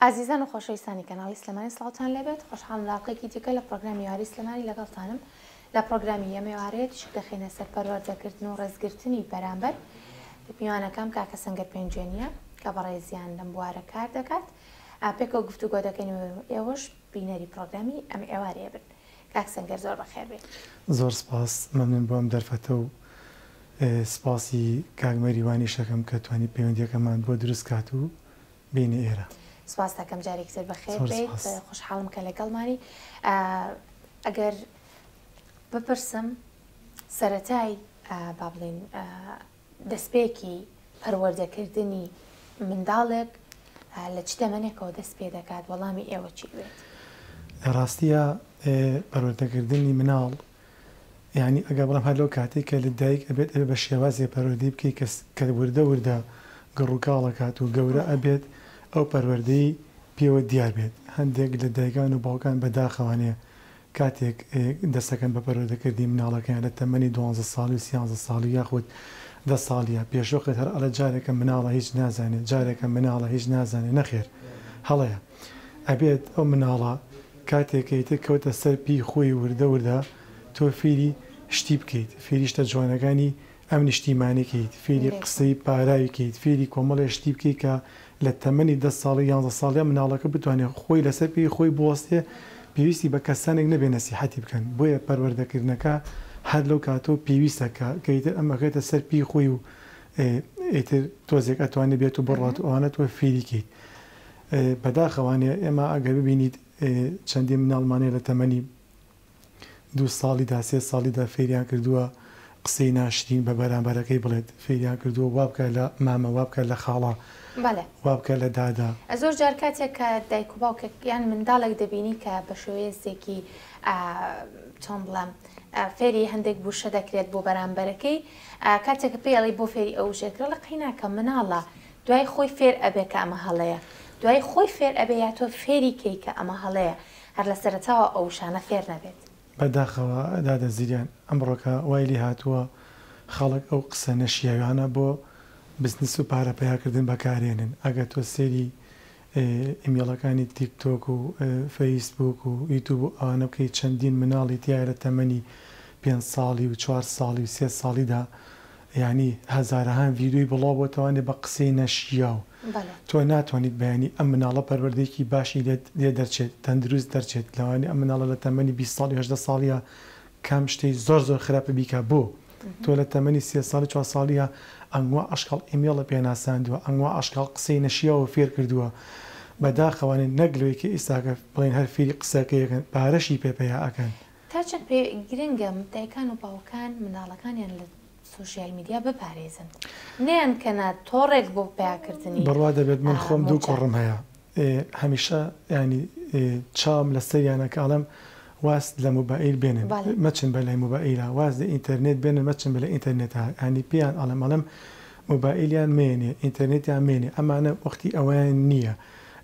ئازیزان و خۆشەویستانی کەناڵی سلێمانی سڵاوتان لێبێت خۆشحاڵم لە ئەڵقەیەکی دیکە لە پڕۆگرامی یاری سلێمانی لەگەڵتانم لە پڕۆگرامی ئەمێوارەیە تیشک دەخەینە سەر پەروەردە کردن و ڕێزگرتنی بەرامبەر میوانەکەم کاکە سەنگەر پێنجوێنیە کە بەڕێزیان لەم بوارە کار دەکات پێکەوە گفتوگۆ دەکەین و ئێوەش بینەری پڕۆگرامی ئەم ئێوارەیە بن کاک سەنگەر زۆر بەخێر بێ زۆر سپاس مەمنون بۆ ئەم دەرفەتە و سپاسی کاک مەریوانیش دەکەم کە توانی پەیوەندیەکەمان بۆ دروست کات و بینی ئێرە. سپاست دەکەم جارێکی تر بەخێر بێیت خۆشحاڵم کە لەگەڵمانی ئەگەر بپرسم سەتای با بڵین دەستپێکی پەروەردەکردنی منداڵێک لە چ تەمەنێکەوە دەست پێ دەکات وەڵامی ئێوە چی بێت لە ڕاستیە پەروەردەکردنی مناڵ یانی ئەگەر بڵێم هەر لەو کاتەی کە لە دایک ئەبێت ئەبێ بە شێوازێ پەروەردەی بکەی کە کە وردە وردە گەڕ و کاڵ ئەکات و گەورە ئەبێت ئەو پەروەردەی پێوە دیار بێت هەندێک لە دایکان و باوکان بە داخەوانێ کاتێک دەست ئەکەن بە پەروەردە کردنی مناڵەکەیان لە تەمەنی دوانزە ساڵی و سیانزە ساڵی یاخود دە ساڵیە پێشوەخت هەر ئەڵێ جارێکە مناڵە هیچ نازانێ جارێکە مناڵە هیچ نازانێ نەخێر هەڵەیە. ئەبێت ئەو مناڵە کاتێ کە ئیتر کەوتە سەر پێی خۆی وردە وردە تۆ فێری شتی بکەیت فێری شتە جوانەکانی ئەم نیشتیمانە کەیت فێری قسەی پاراوی کەیت فێری کۆمەڵێ شتی بکەیت کە لە تەمەنی دە ساڵی یانزە ساڵیا مناڵەکە بتوانێ خۆی لەسەر پێی خۆی بوەستێ پێویستی بە کەسانێک نەبێ نەسیحەتی بکەن بۆیە پەروەردە کردنەکە هەر لەو کاتەوە پێویستە کە کە ئیتر ئەم ئەکەوێتە سەر پێی خۆی و ئیتر تۆزێک ئەتوانێ بێت و بڕوات و ئەوانە تۆ فێری کەیت بەداخەوانە ئێمە ئەگەر ببینیت چەندین مناڵمان هەیە لە تەمەنی دوو ساڵیدا سێ ساڵیدا فێریان کردووە قسەی ناشرین بە بەرامبەرەکەی بڵێت فێریان کردووە وابکە لە مامە وابکە لە خاڵە بەڵێ وابکە لە دادە. زۆر جار کاتێک کە دایک و باوکێک یان منداڵێک دەبینی کە بە شوێیەسێکی ئا چۆن بڵێم فێری هەندێک بوشە دەکرێت بۆ بەرامبەرەکەی کاتێک پێڵی بۆ فێری ئەوشێکرە لە قەیناکە مناڵە دوای خۆی فێر ئەبێ کە ئەمە هەڵەیە دوای خۆی فێر ئەبێ یا تۆ فێری کەی کە ئەمە هەڵەیە هەر لە سەرەتاوە ئەو وشانە فێر نەبێت. بە داخەوە دادە زریان ئەمڕۆکە وای لێ هاتووە خەڵک ئەو قسە نەشیاویانە بۆ بزنس و پارە پەیا کردن بەکارێنن ئەگەر تۆ سەیری ئیمیڵەکانی تیک تۆک و فەیس بووک و یوتوب و ئەوانە بکەی چەندین مناڵی تیایە لە تەمەنی پێنج ساڵی و چوار ساڵی و سێ ساڵیدا یانی هەزارەهان ڤیدیۆی بڵاو بۆتەوانێ بە قسەی نەشیاو تۆ ناتوانیت بیانی ئەم مناڵە پەروەردەیەکی باشی لێ دەرچێت تەندروست دەرچێت لەوانیە ئەم مناڵە لە تەمەنی بیست ساڵی هەژدە ساڵیە کام شتی زۆر زۆر خراپە بیکە بۆ تۆ لە تەمەنی سێ ساڵی چوار ساڵیە ئەنگوا ئەشکەڵ ئیمێڵە پێ ناساندوە ئەنگوا ئەشکەڵ قسەی نەشیاوە فێر کردوە بەداخەوە نەک لۆی کە ئیستاکە بڵێن هەر فیری قسەکەیەکەن پارەشی پێ پەیا ئەکەن. تا چەند پێ گرنگە دایکان و باوکان منداڵەکانیان لە سۆشیال میدیا بپارێزن نەیانکەنە تۆڕێک بۆ پەیاکردنی موچە؟ بڕوا دەبێت من خۆم دوو کوڕم هەیە هەمیشە یانی چاوم لەسەریانە کە ئەڵێم واز لە موبائیل بێنن مەچن بە لای موبائیلا واز لە ئینتەرنێت بێنن مەچن بە لای ئینتەرنێتا یانی پێیان ئەڵێم ئەڵێم موبائیلیان مێنێ ئینتەرنێتیان مێنێ ئەمانە وەختی ئەوەیان نییە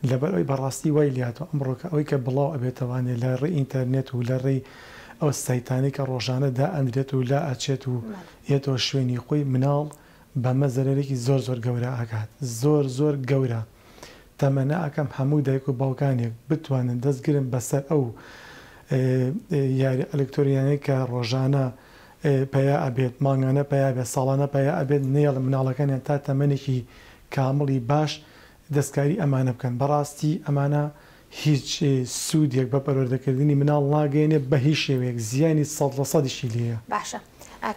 لەبەر ئەوی بەڕاستی وای لاتوە ئەمڕۆکە ئەوەی کە بڵاو ئەبێتەوە یانی لە ڕێی ئینتەرنێت و لە ڕێی ئەو سایتانەی کە ڕۆژانە دائەندرێت و لا ئەچێت و یەتەوە شوێنی خۆی مناڵ بەمە زەرەرێکی زۆر زۆر گەورە ئەکات زۆر زۆر گەورە. تەمەنا ئەکەم هەموو دایک و باوکانێک بتوانن دەست گرن بەسەر ئەو یاری ئەلکتۆرینانەی کە ڕۆژانە پەیا ئەبێت مانگانە پەیا بێت ساڵانە پەیا ئەبێت نەیەڵ مناڵەکانیان تا تەمەنێکی کامڵی باش دەستکاری ئەمانە بکەن بەڕاستی ئەمانە هیچ سودێک بە پەروەردەکردنی مناڵ ناگەیەنێت بە هیچ شێوەیەک زیانی سەد لە سەدیشی لێیە. باشە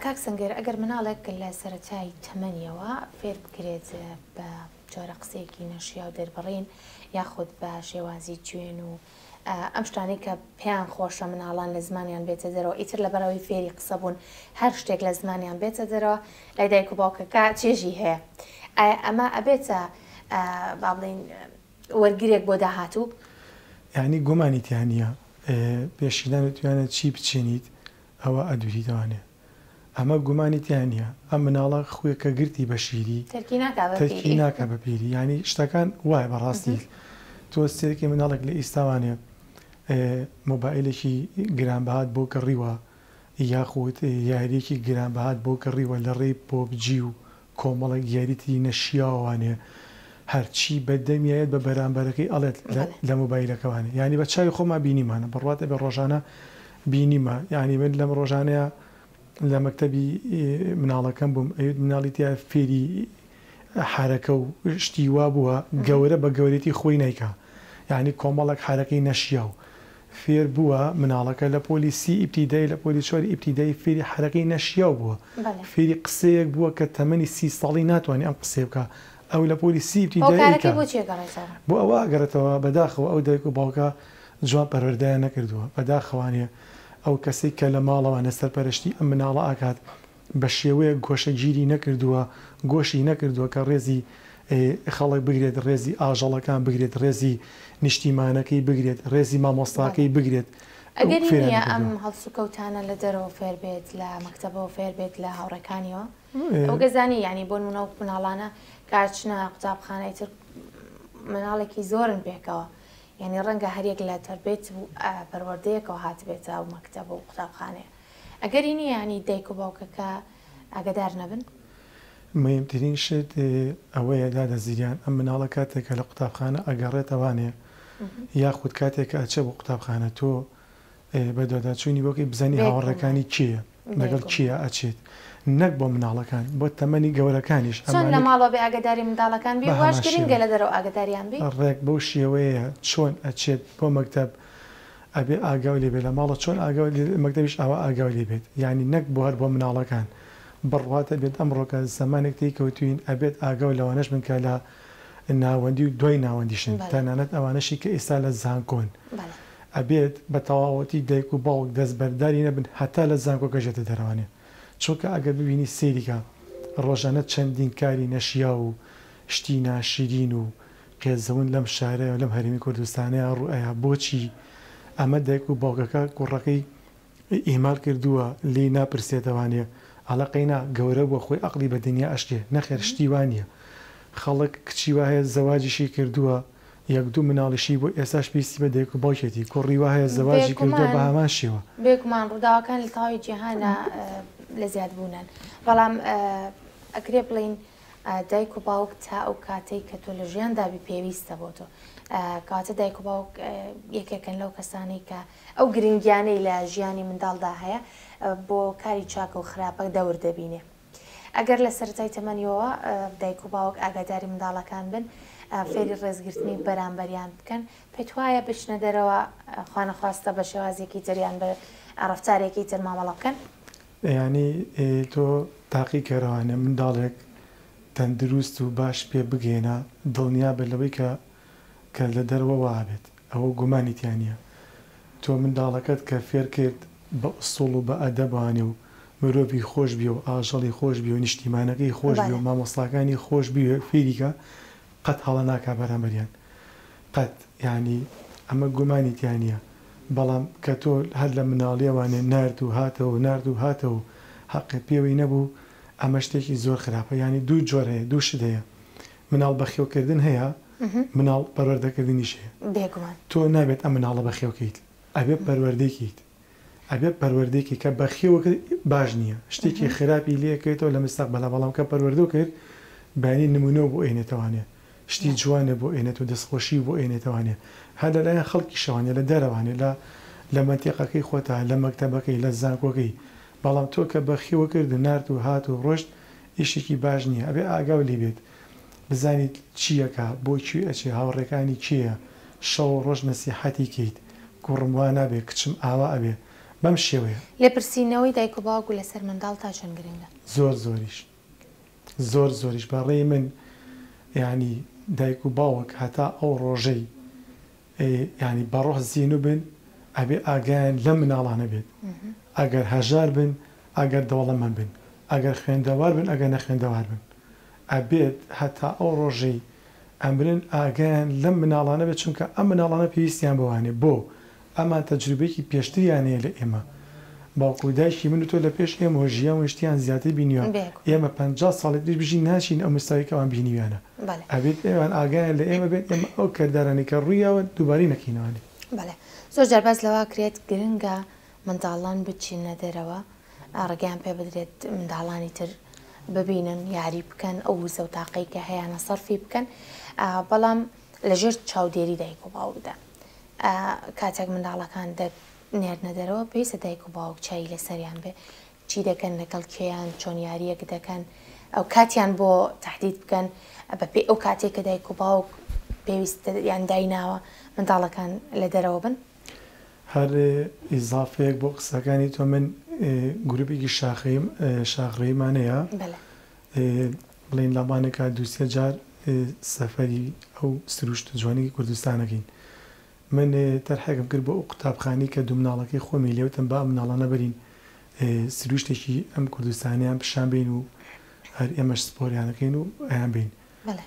کاک سەنگەر ئەگەر مناڵێک لە سەرەتای تەمەنیەوە فێر بکرێت بە جۆرە قسەیەکی نەشیاو دەربڕین یاخود بە شێوازی جوێن و ئەم شتانەی کە پێیان خۆشە مناڵان لە زمانیان بێتە دەرەوە ئیتر لە بەرەوەی فێری قسە بوون هەر شتێک لە زمانیان بێتە دەرەوە لای دایک و باوکەکە چێژی هەیە ئایا ئەمە ئەبێتە با بڵین وەرگرێک بۆ داهاتوو یعنی گۆمانی تیانە پێشیدانە توانە چی بچێنیت ئەوە ئەدوریدەوانێ ئەمە گومانی تیا نیە ئەم مناڵە خوێ کە گرتی بە شیری تەرکی ناکا بە تەرکی پیری. ناکا بە پیری یانی شتەکان وایە بە ڕاستی تۆ سێرکی مناڵێک لە ئیستاوانێ مۆبایلێکی گران بەهات بۆ کڕیوە یاخود یاریەکی گران بەهات بۆ کڕیوە لە ڕێی پۆبجی و کۆمەڵێک دیاری تری نەشیاوانێ هەرچی بە دەمی ئەیەت بە بەرامبەرەکەی ئەڵێت لە لە مۆبایلەکەوانێ یانی بە چاوی خۆمان بینیمانە بڕوات ئەبێ ڕۆژانە بینیمە یانی من لەم ڕۆژانەیا لە مەکتەبی مناڵەکەم بووم ئەیوت مناڵی تیا فێری حەرەکە و شتی وا بووە گەورە بە گەورێتی خۆی نایکا یانی کۆمەڵێک حەرەکەی نەشیاو فێر بووە مناڵەکە لە پۆلی سی ئیبتیدایی لە پۆلی چواری ئیبتیدایی فێری حەرەکەی نەشیاو بووە بەلێ. فێری قسەیەک بووە کە تەمەنی سی ساڵی ناتوانێ ئەم قسەیە بکا ئەو لە پۆلی سی ئیبتیدایی ئەیکا. هۆکارەکەی بۆ چی ئەگەڕێتەوە؟ بۆ ئەوە ئەگەڕێتەوە بەداخەوە ئەو دایک و باوکە جوان پەروەردەیان نەکردووە بەداخەوانێ ئەو کەسەی کە لە ماڵەوانە سەرپەرشتی ئەم مناڵە ئەکات بە شێوەیەک گۆشەگیری نەکردووە، گۆشی نەکردووە کە ڕێزی خەڵک بگرێت، ڕێزی ئاژەڵەکان بگرێت، ڕێزی نیشتیمانەکەی بگرێت، ڕێزی مامۆستاکەی بگرێت، ئەو ئەگەری فێریان نییە ئەم نەکردووە. هەڵسوکەوتانە لە دەرەوە فێر بێت، لە مەکتەبەوە فێر بێت، لە هاوڕێکانیەوە؟ ئەو گەزانیە یانی بۆ نموونە ئەو مناڵانە کە ئەچنە قوتابخانە ئیتر مناڵێکی زۆرن پێکەوە، یانی ڕەنگە هەریەک لە تەربێت و پەروەردەیەکەوە هاتبێتە ئەو مەکتەب و قوتابخانەیە. ئەگەری نیە یانی دایک و باوکەکە ئاگەدار نەبن؟ مەیمترین شت ئەوەیە دادە زریان ئەم مناڵە کاتێک کە لە قوتابخانە ئەگەڕێتە وانێ یاخود کاتێک کە ئەچێ بۆ قوتابخانە تۆ بە دواداچوونی بۆکەی بزانی هاوەڕێکانی کێیە لەگەڵ کیا ئەچێت نەک بۆ مناڵەکان بۆ تەمەنی گەورەکانیش چۆن لە ماڵەوە بێ ئاگەداری منداڵەکان بی واش گرینگە لە دەرەوە ئاگەداریان بی ڕێک بەو شێوەیە چۆن ئەچێت بۆ مەکتەب ئەبێ ئاگاو لێ بێ لە ماڵە چۆن ئاگاو لێ مەکتەبیش ئاوا ئاگاو لێ بێت یانی نەک بۆ هەر بۆ مناڵەکان بڕوات ئەبێت ئەمڕۆکە زەمانێک تێی کەوتوین ئەبێت ئاگاو لەوانەش بن کە لە ناوەندی و دوای ناوەندیشن تەنانەت ئەوانەشی کە ئیستا لە زانکۆن ئەبێت بە تەواوەتی دایک و باوک دەست بەرداری نەبن هەتا لە زانکۆکەش دێتە دەرەوانێ چونکە ئەگەر ببینی سەیری کە ڕۆژانە چەندین کاری نەشیاو و شتی ناشیرین و قێزەون لەم شارەی و لەم هەرێمی کوردستانەیا ڕوو ئەیا بۆچی ئەمە دایک و باوکەکە کوڕەکەی ئیهمال کردووە لێی ناپرسێتەوانێ ئەڵێ قەینا گەورە بووە خۆی ئەقڵی بە دنیا ئەشکێ نەخێر شتی وا نیە خەڵک کچی وا هەیە زەواجیشی کردووە یەک دوو مناڵیشی بووە ئێستاش پێویستی بە دایک و باوکێتی کوڕی وا هەیە زەواجی کردووە بە هەمان شێوە. بێگومان ڕووداوەکان لە تەواوی جیهانا لە زیاد بوونان بەڵام ئەکرێ بڵێین دایک و باوک تا ئەو کاتەی کە تۆ لە ژیان دابی پێویستە بۆ تۆ کاتە دایک و باوک یەکێکن لەو کەسانی کە ئەو گرنگیانەی لە ژیانی منداڵدا هەیە بۆ کاری چاکە و خراپە دەور دەبینێ ئەگەر لە سەرای تەمەنیەوە دایک و باوک ئاگاداری منداڵەکان بن فێری ڕێزگرتنی بەرامبەریان بکەن پێت وایە بچنە دەرەوە خوانەخواستە بە شێوازێکی تریان بە ڕفتارێکی تر مامەڵە بکەن یانی تۆ تاقی کەرەوانە منداڵێک تەندروست و باش پێ بگەیەنە دڵنیا بە لەوەی کە کە لە دەرەوە وا ئەبێت ئەوە گومانی تیا نیە تۆ منداڵەکەت کە فێر کرد بە ئسوڵ و بە ئەدەبانێ و مرۆڤی خۆش بیە و ئاژەڵی خۆش بیە و نیشتیمانەکەی خۆش بیە و مامۆستاکانی خۆش بیە فێری کە قەت هەڵە ناکا بەرامبەریان قەت یانی ئەمە گومانی تیا نیە بەڵام کە تۆ هەر لە مناڵیەوانێ نارد و هاتەوە و نارد و هاتەوە و هەقێ پێوەی نەبوو ئەمە شتێکی زۆر خراپە یانی دوو جۆر هەیە دوو شت هەیە مناڵ بەخێو کردن هەیە مناڵ پەروەردەکردنیش هەیە تۆ نابێت ئەم مناڵە بەخێو کەیت ئەبێ پەروەردەی کەیت ئەگەر پەروەردەیەکی کە بەخێو کرد باش نیە شتێکی خراپی لێ کەیتەوە لە مستەقبەلا بەڵام کە پەروەردەو کرد بەیانی نمونەو بۆ ئەینێتەوانێ شتی جوانێ بۆ ئەینێت و دەست خۆشی بۆ ئەینێتەوانێ هەر لە لایەن خەڵکیشەوانێ لە دەرەوانێ لە لە مەنتیقەکەی خۆتا لە مەکتەبەکەی لە زانکۆکەی بەڵام تۆ کە بەخێو کرد و نارد و هات و ڕۆشت ئیشێکی باش نیە ئەبێ ئاگاو لێ بێت بزانیت چی ئەکا بۆ کوێ ئەچێ هاوڕێکانی کێیە شەوو ڕۆژ نەسیحەتی کەیت کوڕم وا نابێ کچم ئاوا ئەبێ بەم شێوەیە. لێپرسینەوەی دایک و باوک لەسەر منداڵ تا چەند گرنگە؟ زۆر زۆریش زۆر زۆریش بە ڕێی من یانی دایک و باوک هەتا ئەو ڕۆژەی یانی بەڕۆح زینو بن ئەبێ ئاگایان لەم مناڵانە بێت ئەگەر هەژار بن ئەگەر دەوڵەمەن بن ئەگەر خوێندەوار بن ئەگەر نەخوێندەوار بن ئەبێت هەتا ئەو ڕۆژەی ئەمرن ئاگایان لەم مناڵانە بێت چونکە ئەم مناڵانە پێویستیان بەوانەیە بۆ ئەمان تەجروبەیەکی پێشتریان هەیە لە ئێمە باوک و دایکی من و تۆ لە پێش ئێمەوە ژیان و شتیان زیاتر بینیوە ئێمە پەنجا ساڵی تریش بژین ناچین ئەو مستەوای کە ئەوان بینیویانە ئەبێت ئەوان ئاگایان لە ئێمە بێت ئێمە ئەو کردارانەی کە ڕوویاون دووبارەی نەکەینەوانی. بەڵێ زۆر جار باس لەوە کرێت گرنگە منداڵان بچینە دەرەوە ڕێگەیان پێ بدرێت منداڵانی تر ببینن یاری بکەن ئەو وزە و تاقەی کە هەیانە سەرفی بکەن بەڵام لەژێر چاودێری دایک و باوکدا کاتێک منداڵەکان نێردنە دەرەوە پێویستە دایک و باوک چاوی لەسەریان بێ چی دەکەن لەگەڵ کێیان چۆن یاریەک دەکەن ئەو کاتیان بۆ تهدید بکەن بەپێی ئەو کاتێک کە دایک و باوک پێویست یان دایناوە منداڵەکان لە دەرەوە بن. هەر ئیزافەیەک بۆ قسەکانی تۆ من گروپێکی شاخەیم شاخڕێیمان هەیە بڵین لابانەکە دووسێ جار سەفەری ئەو سروشت جوانی کوردستانەکەین من تەرحێکم کرد بۆ ئەو قوتابخانەی کە دوو مناڵەکەی خۆمی لێ وتم با ئەم مناڵانە بەرین سروشتێکی ئەم کوردستانیان پیشان بەین و هەر ئێمەش سپۆریانەکەین و ئەیان بەین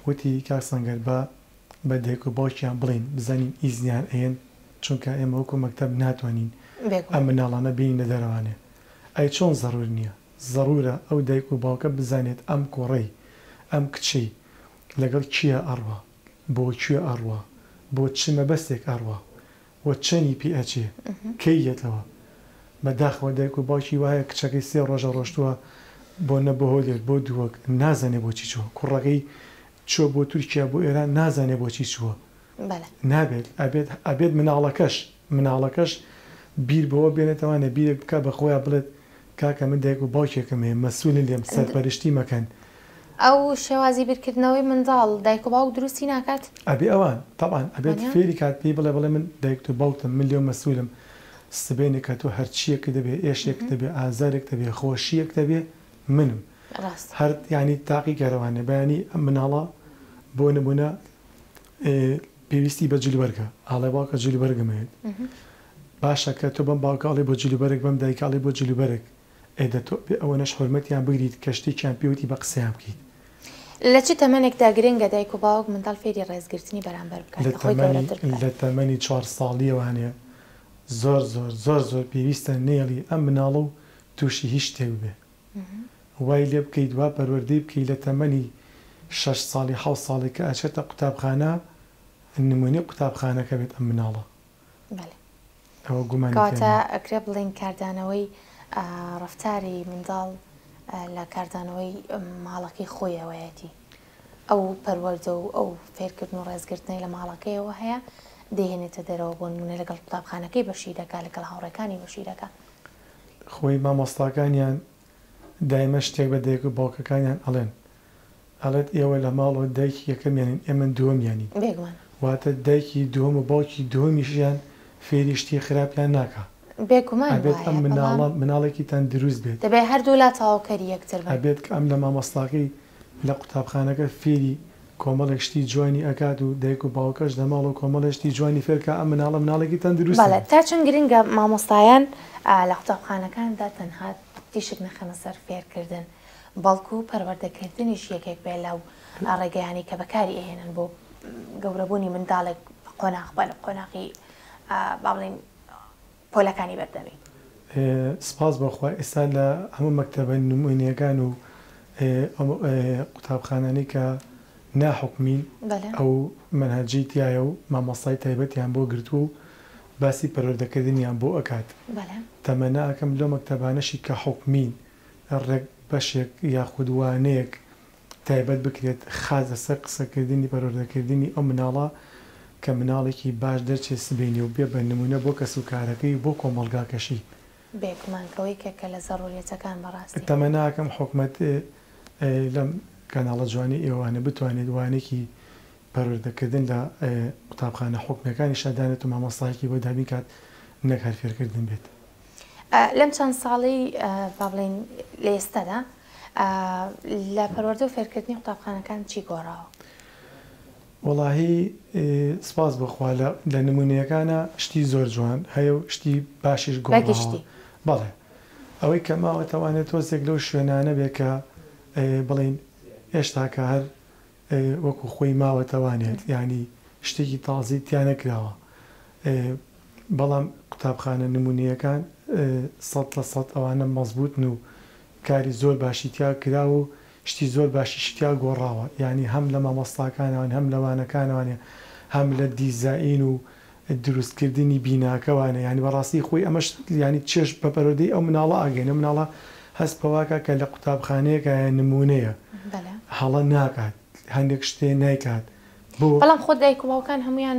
وتی کاک سەنگەر با بە دایک و باوکیان بڵێین بزانین ئیزنیان ئەیەن چونکە ئێمە وەکو مەکتەب ناتوانین ئەم مناڵانە بێینە دەرەوانێ ئەی چۆن زەرور نیە زەرورە ئەو دایک و باوکە بزانێت ئەم کوڕەی ئەم کچەی لەگەڵ کیا ئەڕوا. بۆ کوێ ئەڕوا، بۆ چ مەبەستێک ئەڕوا و چەنی پێ ئەچێ، کەی یەتەوە؟ بە داخەوە دایک و باوکی وایە کچەکەی سێ ڕۆژە ڕۆشتووە بۆ نە بۆ هۆلێر بۆ دووەک نازانێ بۆچی چووە، کوڕەکەی چووە بۆ تورکیا بۆ ئێران نازانێ بۆچی چووە. بەلە. نابێت ئەبێت ئەبێت مناڵەکەش مناڵەکەش بیر بەوە بێنێتەوە یانێ بیرێک بکات بە خۆیا بڵێت کاکە من دایک و باوکێکم هەیە مەسولی لێم سەرپەرشتی مەکەن. ئەو شێوازی بیرکردنەوەی منداڵ دایک و باوک دروستی ناکات؟ ئەبێ ئەوان تەبعەن ئەبێت وانیە؟ فێری کات پێی بڵێ بڵێ من دایکت و باوکتم من لێو مەسولم سبەینێ کە تۆ هەرچیەکت هەبێ ئێشێکت هەبێ ئازارێکت هەبێ خۆشیەکت هەبێ منم ڕاستە. هەر یانی تاقیکەرەوانێ بەیانی ئەم مناڵە بۆ نمونە ئێ پێویستی بە جلوبەرگە ئاڵێ باوکە جلوبەرگم هەێت باشە کە تۆ بەم باوکە ئەڵێ بۆ جلوبەرگ بەم دایکە ئەڵێ بۆ جلوبەرگ ئێ دە تۆ بێ ئەوەنەش حورمەتیان بگریت کە شتێکیان پێ وتی بە قسەیان بکەیت. لە چ تەمەنێکدا گرنگە دایک و باوک منداڵ فێری ڕێزگرتنی بەرامبەر بکات لە کە خۆی تەمەنی گەورەتر بکات؟ لە تەمەنی چوار ساڵیەوانێ زۆر زۆر زۆر زۆر پێویستە نێڵی ئەم مناڵە و توشی هیچ شتێک ببێ وای لێ بکەیت وا پەروەردەی بکەی لە تەمەنی شەش ساڵی حەوت ساڵی کە ئەچێتە قوتابخانە نموونەی قوتابخانەکە بێت ئەم مناڵە بەلی ئەوە گومانی تیانا. کەواتە ئەکرێ بڵێین کاردانەوەی ڕەفتاری منداڵ لە کاردانەوەی ماڵەکەی خۆیەوەیەتی ئەو پەروەردە و ئەو فێرکردن و ڕێزگرتنەی لە ماڵەکەیەوە هەیە دەیهێنێتە دەرەوە بۆ نموونە لەگەڵ قوتابخانەکەی بەشی دەکا لەگەڵ هاوڕێکانی بەشی دەکا خۆی مامۆستاکانیان دایمە شتێک بە دایک و باوکەکانیان ئەڵێن ئەڵێت ئێوە لە ماڵەوە دایکی یەکەمیانین ئێمە دووەمیانین بێگومان. واتە دایکی دووەم و باوکی دووەمیشیان فێری شتی خراپیان ناکا بێگومان ئەبێت وایە ئەم بەڵام مناڵە مناڵێکی تەندروست بێت. دەبێت هەردوولا تەواوکەری یەکتر بن. ئەبێت کە ئەم لە مامۆستاکەی لە قوتابخانەکە فێری کۆمەڵێک شتی جوانی ئەکات و دایک و باوکەش لە ماڵەوە کۆمەڵێ شتی جوانی فێر کا ئەم مناڵە مناڵێکی تەندروستە. بەڵێ تا چەند گرنگە مامۆستایان لە قوتابخانەکاندا تەنها تیشک نەخەنە سەر فێرکردن بەڵکو پەروەردەکردنیش یەکێک بێ لەو ڕێگەیانەی کە بەکاری ئەهێنن بۆ گەورەبوونی منداڵێک قۆناغ بە قۆناغی با بڵێین پۆلەکانی بەردەمی. سپاس بۆ خوا ئێستا لە هەموو مەکتەبە نموونییەکان و ئەو قوتابخانانەی کە نا حکومین ئەو مەنهەجەی تیایە و مامۆستای تایبەتیان بۆ گرتووە و باسی پەروەردەکردنیان بۆ ئەکات تەمەنا ئەکەم لەو مەکتەبانەشی کە حکومین ڕێک بەشێک یاخود وانەیەک تایبەت بکرێت خاس لەسەر قسەکردنی پەروەردەکردنی ئەو مناڵە کە مناڵێکی باش دەرچێ سبەینێ و بێ بە نمونە بۆ کەس و کارەکەی و بۆ کۆمەڵگاکەشی. بێگومان کەو یەکێکە لە زەروریەتەکان بەڕاستی. تەمەناکەم حوکمەت لەم کەناڵە جوانەی ئێوانە بتوانێت وانەکی پەروەردە کردن لە قوتابخانە حوکمیەکانیشا دانێت و مامۆستایەکی بۆ دابین کات نەک هەر فێرکردن بێت. لەم چەند ساڵەی با بڵێین لە ئێستادا. لە پەروەردە و فێرکردنی قوتابخانەکان چی گۆڕاوە؟ وەڵاهی سپاس بۆ خوا لە لە نموونەیەکانا شتی زۆر جوان هەیە و شتی باشیش گۆڕاوە. بەگشتی. بەڵێ. ئەوەی کە ماوە تەوانێ تۆزێک لەو شوێنانە بێ کە بڵێین هێشتاکە هەر وەکوو خۆی ماوە تەوانێت یانی شتێکی تازەی تیا نەکراوە بەڵام قوتابخانە نموونەیەکان سەد لە سەد ئەوانە مەزبووتن و کاری زۆر باشی تیا کراوە و شتی زۆر باشیشی تیا گۆڕاوە یانی هەم لە مامۆستاکانەوەن هەم لە وانەکانەوانێ هەم لە دیزائین و دروست کردنی بیناکەوانێ یانی بەڕاستی خۆی ئەمەش یانی چێژ بە پەروەردەی ئەو مناڵە ئاگەینێ ئەو مناڵە هەست پەواکا کە لە قوتابخانەیەکایە نموونەیە هەڵە ناکات هەندێک شتێ نایکات بۆ بەڵام خۆ دایک و باوکان هەموویان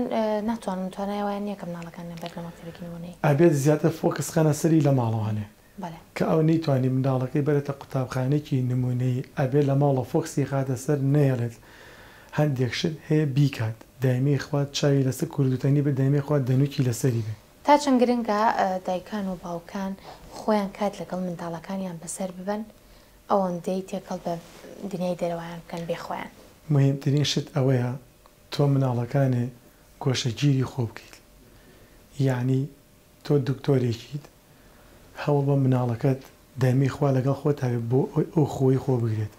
ناتوانن توانای ئەوەیان نیە کە مناڵەکانیان بەرنە مەکتەبێکی نموونەیی ئەبێت زیاتر فۆکس خەنە سەری لە ماڵەوانێ بەڵێ. کە ئەو نەیتوانی منداڵەکەی بەرێتە قوتابخانەیەکی نمونەیی ئەبێت لە ماڵە فۆکسی یخاتە سەر نەیەڵێت هەندێک شت هەیە بیکات دایمەی خوات چاوی لەسەر کوردوتەنی بێت دایمەی خوات دەنوکی لەسەری بێت. تا چەند گرنگە دایکان و باوکان خۆیان کات لەگەڵ منداڵەکانیان بەسەر ببەن ئەوەندەی تێکەڵ بە دنیای دەرەوەیان بکەن بێ خۆیان. مهیمترین شت ئەوەیە تۆ مناڵەکانێ گۆشەگیری خۆ بکەیت یەعنی تۆ دکتۆرێکیت هەوڵ بە مناڵەکەت دایمەی خوا لەگەڵ خۆتا بێت بۆ ئەوەی ئەو خۆی خۆ بگرێت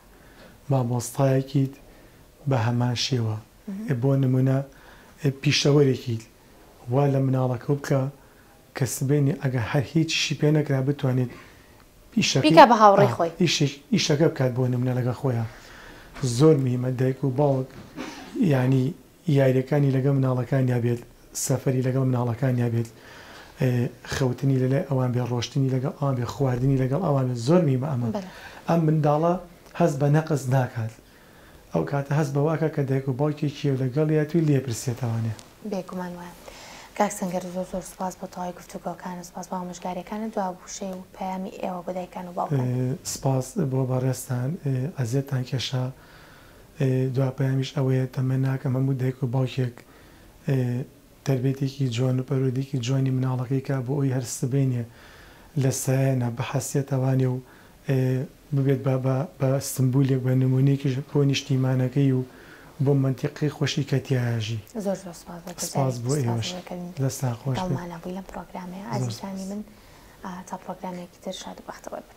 مامۆستایەکیت بە هەمان شێوە ئێ بۆ نمونە ئێ پیشەوەرێکیت وا لە مناڵەکەو بکە کە سبەینێ ئەگەر هەر هیچیشی پێ نەکرا بتوانێت ئیشەکەی بیکا بە هاوڕێی خۆی. ئیشێکی ئیشەکە بکات بۆ نمونە لەگەڵ خۆیا زۆر مهمە دایک و باوک یانی یاریەکانی لەگەڵ مناڵەکانیا بێت سەفەری لەگەڵ مناڵەکانیا بێت خەوتنی لەلای ئەوان بێت ڕۆشتنی لەگەڵ ئەوان بێت خواردنی لەگەڵ ئەوان بێت زۆر میمە ئەمە ئەم منداڵە هەست بە نەقس ناکات ئەو کاتە هەست بەوەکە کە دایک و باوکێکی و لەگەڵیە توی لێپرسێتەوانێ. بێگومان وایە کاک سەنگەر زۆر زۆر سوپاس بۆ تەواوی گفتوگۆکانت سوپاس بۆ ئامۆژگاریەکانت دو وشەی و پەیامی ئێوە بۆ دایکان و باوکان. سپاس بۆ بەڕێزتان ئەزێتتان کێشا. دوا پەیامیش ئەوەیە تەمە ناکەم هەموو دایک و باوکێک تەربێتێکی جوان و پەروەدیکی جوانی مناڵەکەی کا بۆ ئەوی هەر سبەینێ لە سایەنا بحەسێتەوانێ و ببێت بە بە بە سمبولیک بە نمونەیکیش بۆ نیشتیمانەکەی و بۆ مەنتیقەی خۆشی کە تیایاژی. زۆر زۆر سپاس بۆ سپاس بۆ ئێوەش دەستان خۆش بێت. گەڵمانە بوی لەم پڕۆگرامەیە ئازیزانی من تا پڕۆگرامێکی تر شاد و بەختەوەر بن.